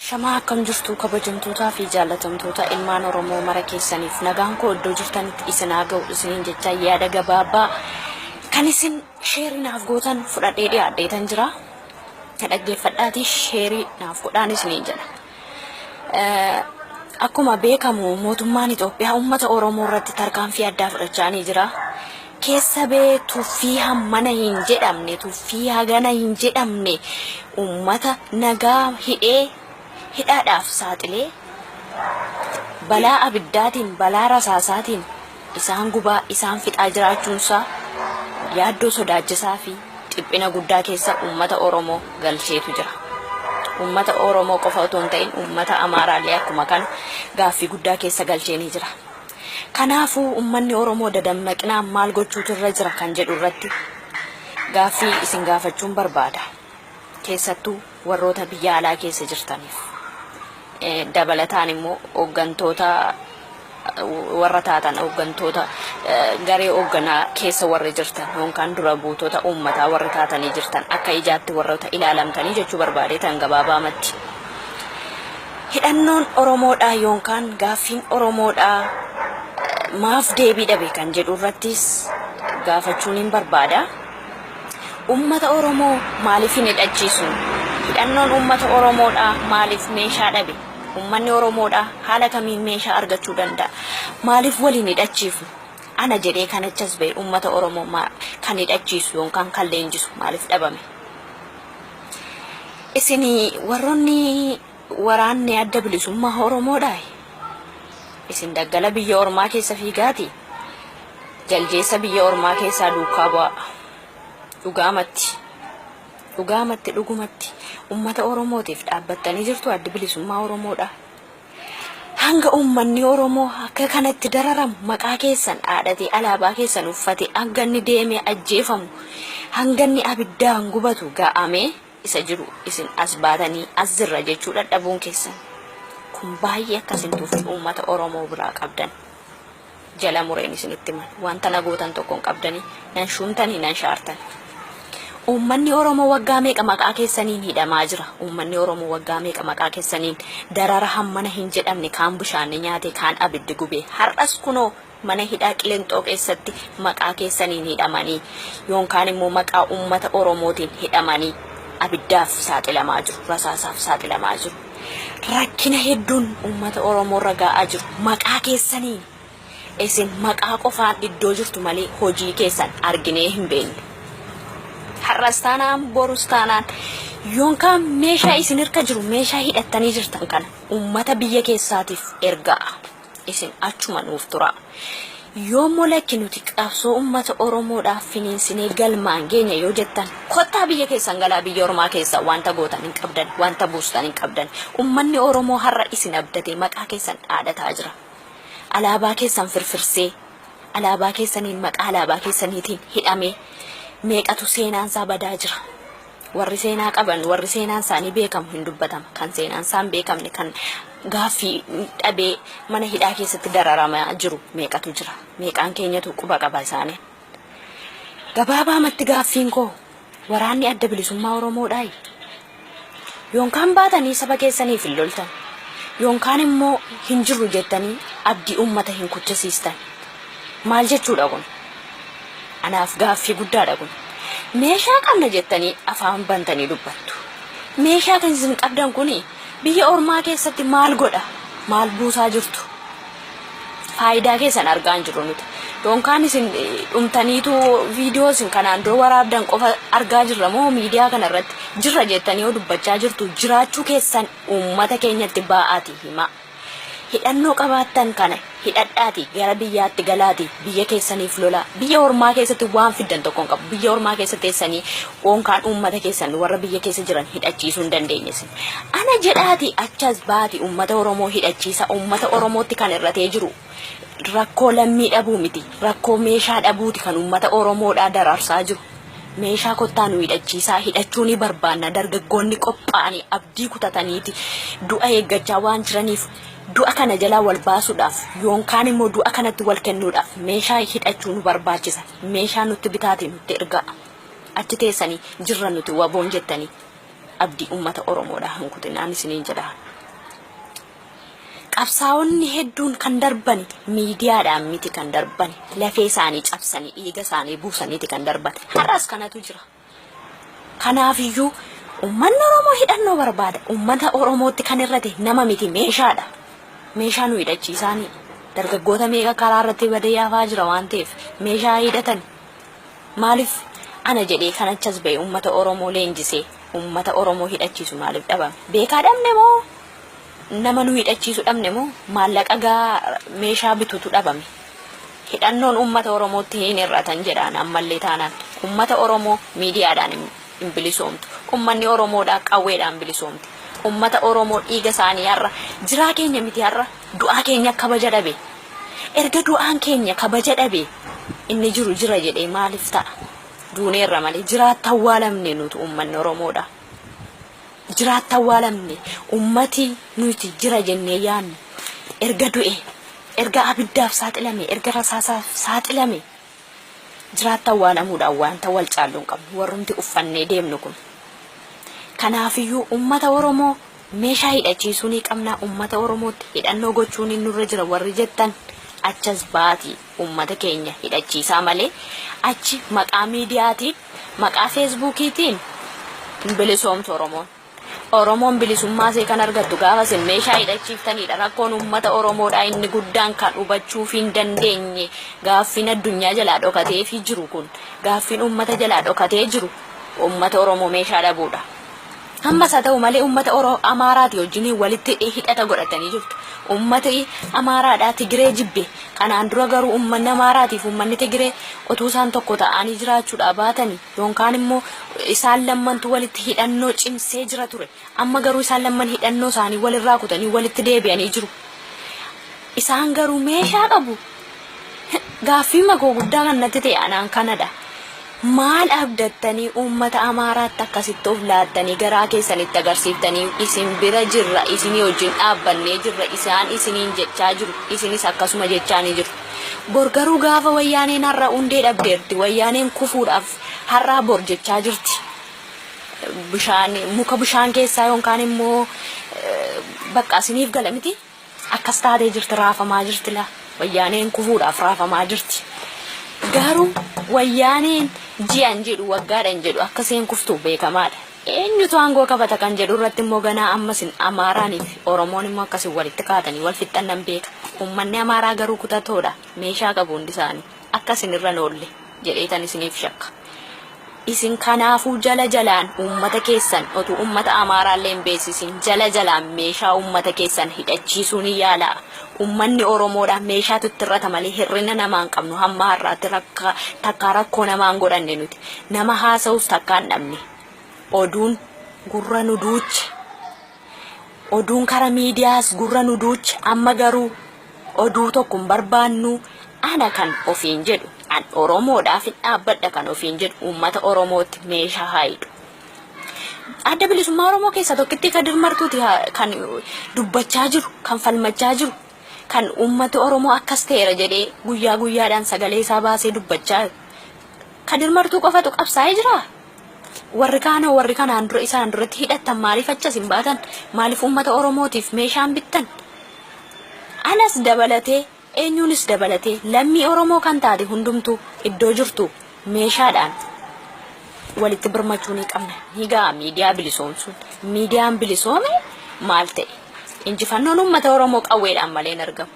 Ashamaa akkam jirtuu kabajamtootaa fi jaallatamtoota ilmaan Oromoo mara keessaniif nagaan koo iddoo jirtanitti isin haa ga'u isiniin jecha yaada gabaabaa kan isin sheerii naaf gootan fudhadhee dhiyaadheetan jira. Na dhaggeeffadhaatii sheerii naaf godhaan isiniin jedha. Eh, Akkuma beekamu mootummaan Itoophiyaa uummata Oromoo irratti tarkaanfii addaa fudhachaanii jira. keessa bee tuffii hammana hin jedhamne tuffii hagana hin jedhamne ummata nagaa hidhee hidhaadhaaf saaxilee balaa abiddaatiin balaa rasaasaatiin isaan gubaa isaan fixaa jiraachuunsaa yaaddoo sodaachisaa fi dhiphina guddaa keessa ummata Oromoo galcheetu jira. Ummata Oromoo qofa otoo hin ta'in ummata Amaaraallee akkuma kana gaaffii guddaa keessa galcheenii jira. Kanaafuu ummanni Oromoo dadammaqinaan maal gochuutu irra jira kan jedhu irratti gaaffii isin gaafachuun barbaada. Keessattuu warroota biyya alaa keessa jirtaniif. Dabalataan immoo hooggantoota warra taatan hooggantoota garee hoogganaa keessa warri jirtan yookaan dura buutota uummataa warri taatanii jirtan akka ijaatti warroota ilaalamtanii jechuu barbaadee tan gabaabaamatti. Hidhannoon Oromoodhaa yoonkaan gaaffiin Oromoodhaa maaf deebii dhabe kan jedhu irrattis gaafachuuniin barbaada. Uummata Oromoo maaliif hin hidhachiisu? Hidhannoon uummata Oromoodhaa maaliif meeshaa dhabe? Uummanni Oromoodhaa haala kamiin meeshaa argachuu danda'a? Maaliif wal hin hidhachiifnu? Ana jedhee kan achas ba'e uummata Oromoo kan hidhachiisu yoonkaan kan leenjisu maaliif dhabame? Isin warroonni waraanni adda bilisummaa Oromoodhaa isin daggala biyya ormaa keessa fiigaati jaldeessa biyya ormaa keessaa duukaa bu'aa. Dhugaamatti dhugaamatti dhugumatti ummata Oromootiif dhaabbattanii jirtu addi bilisummaa Oromoodhaa. Hanga uummanni Oromoo akka kanatti dararamu, maqaa keessan dhaadhatee alaabaa keessan uffatee hanga inni deemee ajjeefamu, hanga inni abiddaan gubatu ga'amee isa jiru isin as baatanii as jirra jechuu dhadhabuun keessan kun baay'ee akka isin tuffii uummata Oromoo biraa qabdan. jala mureen isinitti himan. Wanta na gootan tokko hin qabdanii, nan shuumtanii, nan shaartanii. Uummanni Oromoo waggaa meeqa maqaa keessaniin hidhamaa jira. Uummanni Oromoo waggaa meeqa maqaa keessaniin darara hammana hin jedhamne kaan bishaanni nyaate, kaan abiddi gube. Har'as kunoo mana hidhaa qilinxoo keessatti maqaa keessaniin hidhamanii yoon kaan immoo maqaa uummata Oromootiin hidhamanii abiddaaf saaxilamaa jiru, rasaasaaf saaxilamaa jiru. rakkina hedduun uummata Oromoo irra ga'aa jiru. Maqaa keessaniin isin maqaa qofaan iddoo jirtu malee hojii keessan arginee hin beekne. Har'as taanaan borus taanaan yookaan meeshaa isin harka jiru meeshaa hidhattanii jirtan kana uummata biyya keessaatiif ergaa. isin achuma nuuf turaa. Yoommoo lakki nuti qabsoo ummata Oromoodhaaf finiinsinee galmaan geenya yoo jettan kottaa biyya keessan galaa biyya ormaa keessaa wanta gootan hin qabdan wanta buustan hin qabdan ummanni Oromoo har'a isin abdatee maqaa keessan dhaadataa jira alaabaa keessan firfirsee alaabaa keessaniin maqaa alaabaa keessaniitiin hidhamee meeqatu seenaan isaa badaa jira Warri seenaa qaban, warri seenaan isaanii beekamu hin dubbatama. Kan seenaan isaa hin beekamne, kan gaaffii dhabee mana hidhaa keessatti dararamaa jiru meeqatu jira. Meeqaan keenyatu quba qaba isaanii. Gabaabaamatti gaaffiin koo waraanni adda bilisummaa Oromoodhaayi. Yoonkaan baatanii saba keessaniif hin loltan. Yoonkaan immoo hin jirru jettanii abdii uummata hin kuchisiistan. Maal jechuudha kun? Anaaf gaaffii guddaadha kun. Meeshaa qabna jettanii afaan bantanii dubbattu. Meeshaa kan isin qabdan kun biyya ormaa keessatti maal godha? Maal buusaa jirtu? Faayidaa keessan argaa hin jirru nuti. Yookaan isin dhumtaniitu viidiyoo isin kanaan dura waraabdan qofa argaa jirra moo miidiyaa kana irratti jirra jettanii yoo dubbachaa jirtu jiraachuu keessan uummata keenyatti baa'aati himaa. Hidhannoo qabaattan kana hidhadhaatii gara biyyaatti galaatii biyya keessaniif lolaa. Biyya ormaa keessatti waan fiddan tokko hin qabu. Biyya ormaa keessa teessanii unkaan uummata keessan warra biyya keessa jiran hidhachiisuu hin dandeenye isin. Ana jedhaatii achas baati uummata Oromoo hidhachiisa. Uummata Oromootti kan irratee jiru rakkoo lammii dhabuu miti. Rakkoo meeshaa dhabuuti kan uummata Oromoodhaa dararsaa jiru. Meeshaa kottaa nu hidhachiisaa, hidhachuu ni barbaanna, dargaggoonni qophaa'anii abdii kutataniiti du'a eeggachaa waan jiraniif du'a kana jalaa wal baasuudhaaf yoonkaan immoo du'a kanatti wal kennuudhaaf meeshaa hidhachuu nu barbaachisa. Meeshaa nutti bitaati nutti ergaa. Achi teessanii jirra nuti waboon jettanii abdii uummata Oromoodhaa hin kutinaan isiniin jedha. Qabsaa'onni hedduun kan darbani miidiyaadhaan miti kan darbani lafee isaanii cabsanii dhiiga isaanii buusaniiti kan darban. Har'as kanatu jira. Kanaafiyyuu uummanni Oromoo hidhannoo barbaada. Uummata Oromootti kan irrate nama miti meeshaadha. Meeshaa nu hidhachiisaanii dargaggoota meeqa karaa irratti badee hafaa jira waan ta'eef meeshaa hidhatan maaliif ana jedhee kan achas ba'e uummata Oromoo leenjisee uummata Oromoo hidhachiisu maaliif dhabame? Beekaa dhabne moo nama nu hidhachiisu dhabne moo maallaqa gaa meeshaa bitutu dhabame hidhannoon ummata oromootti hin hir'atan jedhaan ammallee taanaan ummata oromoo miidiyaadhaan hin hin bilisoomtu ummanni oromoodhaa qawweedhaan bilisoomte ummata oromoo dhiiga isaanii har'a jiraa keenya miti har'a du'aa keenya kabaja dhabe erga du'aan keenya kabaja dhabe inni jiru jira jedhee maaliif ta'a duuneerra malee jiraatti awwaalamne nutu ummanni oromoodhaa Jiraatta awwaalamne ummati nuti jira jennee yaannu erga du'ee, erga abiddaaf saaxilamee, erga rasaasaaf saaxilamee jiraatta awwaalamuudhaan waanta wal caallu hin qabnu warrumti uffannee deemnu kun. Kanaafiyyuu ummata Oromoo meeshaa hidhachiisuu ni qabna, ummata Oromootti hidhannoo gochuun nurra jira warri jettan achas baatii. Uummata keenya hidhachiisaa malee achi maqaa miidiyaatiin, maqaa feesbuukiitiin hin bilisoomtu Oromoon. Oromoon bilisummaa isee kan argattu gaafa isin meeshaa hidhachiiftaniidha. Rakkoon uummata Oromoodhaa inni guddaan kan hubachuuf hin dandeenye gaaffiin addunyaa jalaa dhokateefii jiru kun, gaaffiin uummata jalaa dhokatee jiru uummata Oromoo meeshaa dhabuudha. Ammas haa ta'u malee uummata Oro Amaaraati wajjinii walitti hidhata godhatanii jirtu. Uummati Amaaraadhaa Tigiree jibbe. Kanaan dura garuu uummanni Amaaraatiif uummanni Tigiree otuu isaan tokko ta'aanii jiraachuudhaa baatanii yoonkaan immoo isaan lammantu walitti hidhannoo cimsee jira ture. Amma garuu isaan lamman hidhannoo isaanii walirraa kutanii walitti deebi'anii jiru. Isaan garuu meeshaa qabu. Gaaffiima koo guddaa kan natti ta'e anaan kanadha. Maal abdattanii uummata Amaaraatti akkasitti of laattanii garaa keessan itti agarsiiftanii isin bira jirra, isinii wajjin dhaabbannee jirra isaan isiniin jechaa jiru, isinis akkasuma jechaanii jiru. Bor garuu gaafa Wayyaaneen har'a hundee dhabdeerti, Wayyaaneen kufuudhaaf har'aa bor jechaa jirti. Bishaan, muka bishaan keessaa yookaan immoo baqqa isiniif gala mitii? Akkas taatee jirti raafamaa jirti laa wayyaaneen kufuudhaaf raafamaa jirti garuu wayyaaneen ji'an jedhu waggaadhan jedhu akka seen kuftu beekamaadha eenyutu aangoo qabata kan jedhu irratti immoo ganaa ammas amaaraanii fi oromoon immoo akkasii walitti kaatanii wal fixxan nan beeka ummanni amaaraa garuu kutatoodha meeshaa qabu hundi isaanii akka isin irra hin oolle jedheetan isiniif shakka. Isin kanaafuu jala jalaan uummata keessan otuu uummata Amaaraa illee hin beeksisin jala jalaan meeshaa uummata keessan hidhachiisuu ni yaalaa. Uummanni Oromoodha meeshaatu itti irrata malee hir'ina namaa hin qabnu hamma har'aatti rakka takkaa rakkoo namaa hin godhanne nuti. Nama haasa'us takkaa hin dhabne. Oduun gurra nu duuche. Oduun kara miidiyaas gurra nu duuche amma garuu oduu tokko hin barbaannu ana kan ofiin jedhu an Oromoodhaaf hin dhaabbadha kan ofiin jedhu uummata Oromootti meeshaa haa hidhu. Adda bilisummaa Oromoo keessa tokkitti Kadir Martuuti haa- kan dubbachaa jiru kan falmachaa jiru kan uummati Oromoo akkas ta'eera jedhee guyyaa guyyaadhaan sagalee isaa baasee dubbachaa Kadir Martuu qofatu qabsaa'ee jira Warri kaanoo warri kanaan dura isaan duratti hidhattan maaliif achas hin baatan? Maaliif uummata Oromootiif meeshaan bittan? Anas dabalatee eenyuunis dabalatee lammii Oromoo kan taate hundumtuu iddoo jirtu meeshaadhaan walitti birmachuu ni qabna. Ni ga'a miidiyaa bilisoomsuun. Miidiyaan bilisoome maal ta'e? Injifannoon uummata Oromoo qawweedhaan malee hin argamu.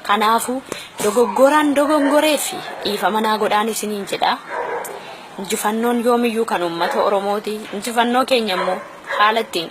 Kanaafuu dogoggoraan dogongoree fi dhiifama naa godhaan isiniin jedha. Injifannoon yoomiyyuu kan uummata Oromooti. Injifannoo keenya immoo haala ittiin